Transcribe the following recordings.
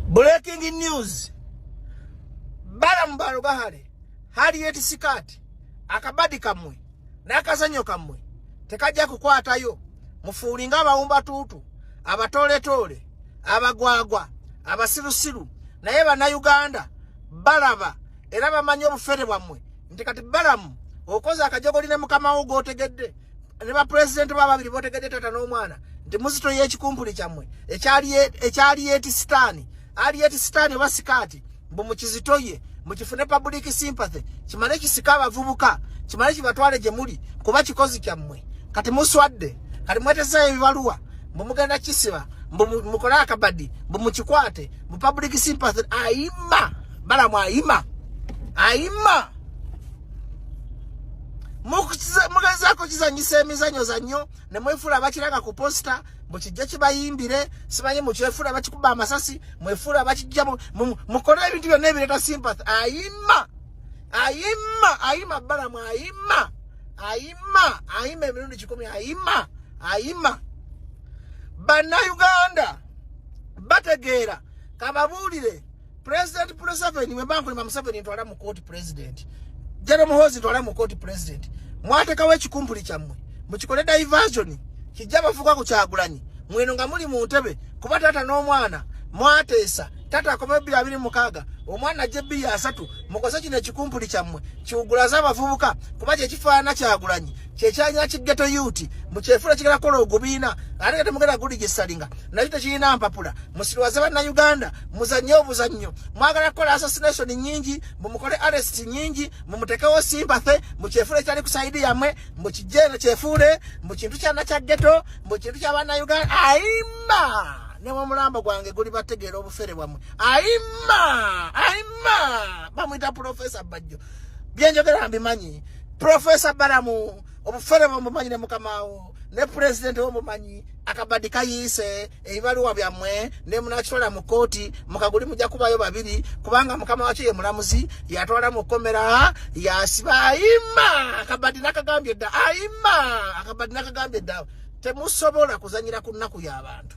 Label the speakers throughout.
Speaker 1: Breaking news. Balamu balugahale hali yeti sikati akabadi kamwe nakazanyo kamwe tekajja kukwatayo mufuulinga abawumba tuutu abatooletoole abagwagwa abasirusiru naye bannayuganda balaba era bamanyi obufere bwammwe nti kati balamu okoze akajogoli ne mukama wo gwotegedde ne bapulezidenti ba babiri botegedde tata n'omwana nti muzito y'ekikumpuli kyammwe ekyaliyeti sitaani aliyeti sitaani oba sikaati mbu mukizito ye mukifune public sympathy kimale kisika abavubuka kimale kibatwale gye muli kuba kikozi kyammwe kati muswadde kati mwetezayo ebibaluwa mbu mugenda kisiba mbu mukole akabadi mbu mukikwate mbu public sympathy ayima balamu ayima ayima mugezaako kizanyisa emizanyo zannyo ne mwefuula abakiranga ku posita mbu kijja kibayimbire simanyi mukyefuula bakikuba amasasi mwefuula bakijja mukole ebintu byonna ebireeta sympath ayima ayima ayima balamu ayima ayima ayima emirundi kikumi ayima ayima bannayuganda bategeera kababuulire president Museveni bwe bankulima Museveni ntwala mu court president General Muhoozi ntwala mu court president mwatekawo ekikumpuli kyammwe mukikole diversion kijja bafuka ku Kyagulanyi mweno nga muli mu ntebe kuba taata n'omwana mwateesa taata akoma ebbiri abiri mukaaga omwana ajja ebbiri asatu mukoze kino ekikumpuli kyammwe kiwugulaze abavubuka kuba kyekifaanana Kyagulanyi kyekyanya kigeto yuti mukyefula kigala kola ogubiina ate nga temugenda guligisalinga nakyo tekirina mpapula musirwaze bannayuganda muzannye obuzannyo mwagala kukola assassination nyingi mumukole arest nyingi mumutekewo sympathy mukyefula ekyali ku saidi yamwe mukijeno kyefuule mu kintu kyana kya geto mu kintu kya bannayuganda ayimba ne mumulambo gwange guli bategeera obufere bwamwe ayimba ayimba bamwita profesa bajjo byenjogera mbimanyi Professor Balamu obufere bomumanyi ne mukamaawo ne pulezidenti womumanyi akabadi kayiise ebibaluwa byammwe ne munakitwala mu kkooti mukaguli mujja kubayo babiri kubanga mukama wakyo ye mulamuzi yatwala mu kkomera yasiba ayima akabadi nakagambye dda ayima akabadi nakagambye dda temusobola kuzanyira ku nnaku y'abantu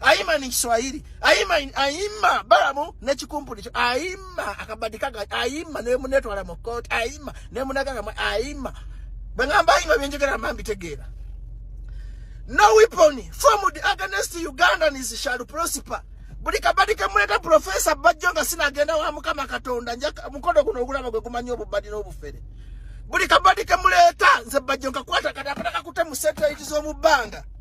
Speaker 1: ayima ni kiswahili ayima ayima balamu ne kikumpuli ayima akabadika ga ayima ne muneto ala mokot ayima ne munaga ga ayima bangamba ayima byenjogera mambi tegera no weapon formed against ugandan is shall prosper buli kabadi kemuleta professor bajjo nga sinagenda wa mukama katonda nja mukodo guno ogulaba gwe gumanyi obubadi n'obufere buli kabadi kemuleta nze bajjo nkakwata kati apataka kute mu satelite z'omu bbanga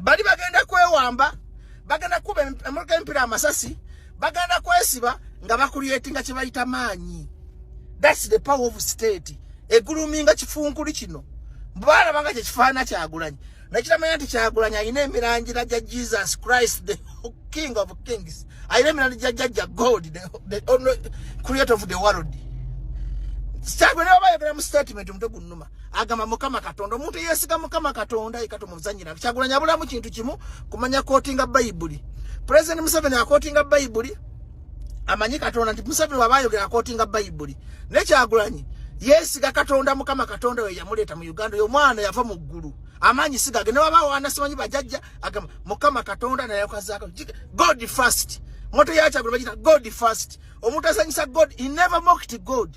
Speaker 1: bali bagenda kwewamba bagenda kuba emotoka empira amasasi bagenda kwesiba nga bakulyetinga kyebayita maanyi thats the power of state eguluminga kifunkuli kino bwalabanga kyekifaana kyagulanyi nakitamanya nti kyagulanyi alina emirangira gya jesus christ the king of kings alina emirangira gya jajja god the only creator of the world kyagulanyi baba yogera mu statement omutwe gunnuma agamba mukama katonda omuntu eyesiga mukama katonda yeka tumuzanyira kyagulanya abulamu kintu kimu kumanya kotinga bayibuli pulezidenti museveni akotinga bayibuli amanyi katonda nti museveni waba ayogera akotinga bayibuli naye kyagulanyi yesiga katonda mukama katonda we yamuleeta mu uganda oyo omwana yava mu ggulu amaanyi sigage newabaawo anasimanyi bajajja agamba mukama katonda nayakokazaako god first moto yakyagula bagita god first omuntu asanyisa god he never mocked god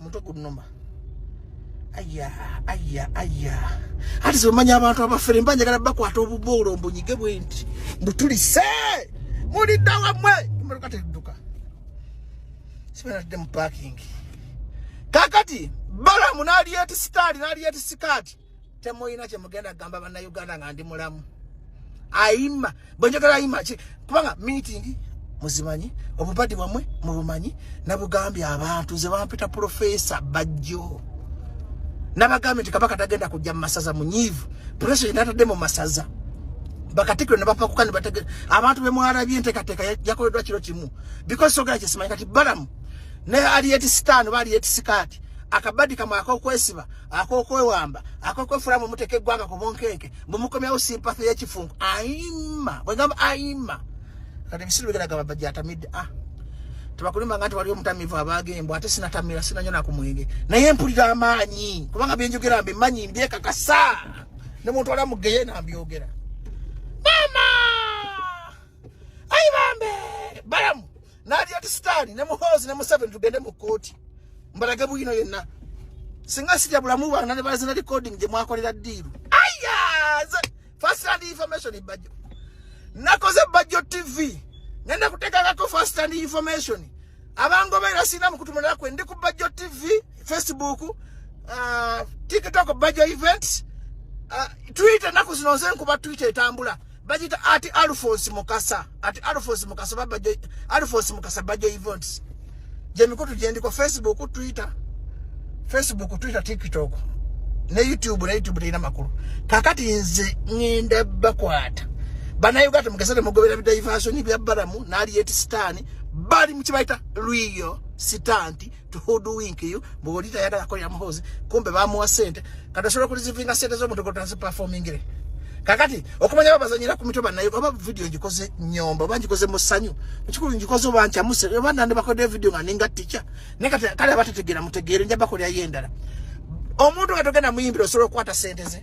Speaker 1: mutwe gunuma aya aya aya ati zimanya abantu abafere mba njagala bakwata obuboolo mbunyige bwenti mbutulise mulidda wamwe emmotoka tedduka sibanadde mu parking kakati balamu naliyeti sitaali naliyeti sikaati temulina kyemugenda kugamba bannayuganda nga ndi mulamu ayima bwenjogera ayima ki kubanga meeting muzimanyi obubadi bwamwe mubumanyi nabugambye abantu nze bampita profesa bajjo nabagambye nti kabaka tagenda kujja mu masaza munyiivu profesa yenatadde mu masaza bakatikiro nebapakuka nebatege abantu bemwalabye entekateeka yakoleddwa kiro kimu because sogera kyesimanyi kati balamu ne aliyeti sitaano ba aliyeti sikaati akabadi kamwe akokwesiba akokwewamba akokwefula mwe muteka eggwanga ku bunkeeke mwe mukomyawo simpathy y'ekifunku ayima bwe ngamba ayima kati ebisiru bigera gamba bajatamidde ah tebakulimbanga nti wali omutamivu abaaga embwa ate sinatamira sinanyo nakumwenge naye mpulira amaanyi kubanga byenjogera mbi manyi mbyekakasa ne muntu ala mugeye nambyogera mama ayi bambe balamu nali ati sitani ne muhozi ne museveni tugende mu kooti mbalage bwino yenna singa sija bulamu bwana ne bazina recording gye mwakolera diiru aya first hand information ibajjo nakoze bajjo tv nenda kutekakako first hand information abangobeera sina mukutumalira kwe ndi ku bajjo tv facebook uh, tiktok bajjo events uh, twitter naku zino nze nkuba twitter etambula bagita ati alphonse mukasa ati alphonse mukasa baba alphonse mukasa bajo events je mikutu jendi kwa facebook twitter facebook twitter tiktok ne youtube ne youtube lina makuru kakati nze ngenda bakwata bana uganda mukasale mugobera bidaivaso ni bya baramu nali yeti stani bali mchibaita luyo sitanti to who do wink you bwoli tayagala ko yamuhozi kumbe bamuwa sente kati osobola okulizivinga sente z'omutogo taziperformingire kakati okumanya babazanyira ku mitwe banaye oba vidiyo ngikoze nyomba oba ngikoze mu ssanyu ekikulu ngikoze oba nkyamuse oba nandi bakodde vidiyo nga ninga tica naye kati kale abatetegeera mutegeere nja bakolerayo endala omuntu nga togenda muyimbira osobola okukwata sente ze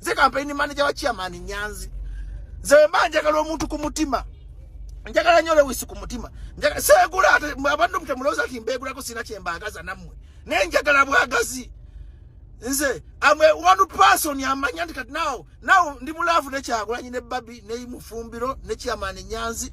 Speaker 1: nze campaign manager wa chairman nyanzi nze mba njagala omuntu ku mutima njagala nyo lewisi ku mutima segula ate abantu mutemulowoza nti mbegulako sina kyembagaza nammwe naye njagala bwagazi nze am a one person amanya nti kati nawo nawo ndi mulaavu nekyagulanyi ne babi ne mufumbiro ne chairman nyanzi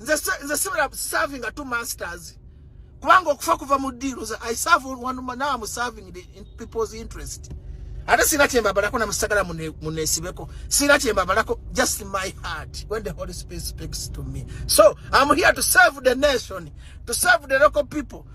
Speaker 1: nze nze sibira serving two masters kubanga okufa kuva mu deal za i serve one man now i'm serving the in people's interest ate sina chemba balako na musagala munesibeko sina chemba balako just my heart when the holy spirit speaks to me so i'm here to serve the nation to serve the local people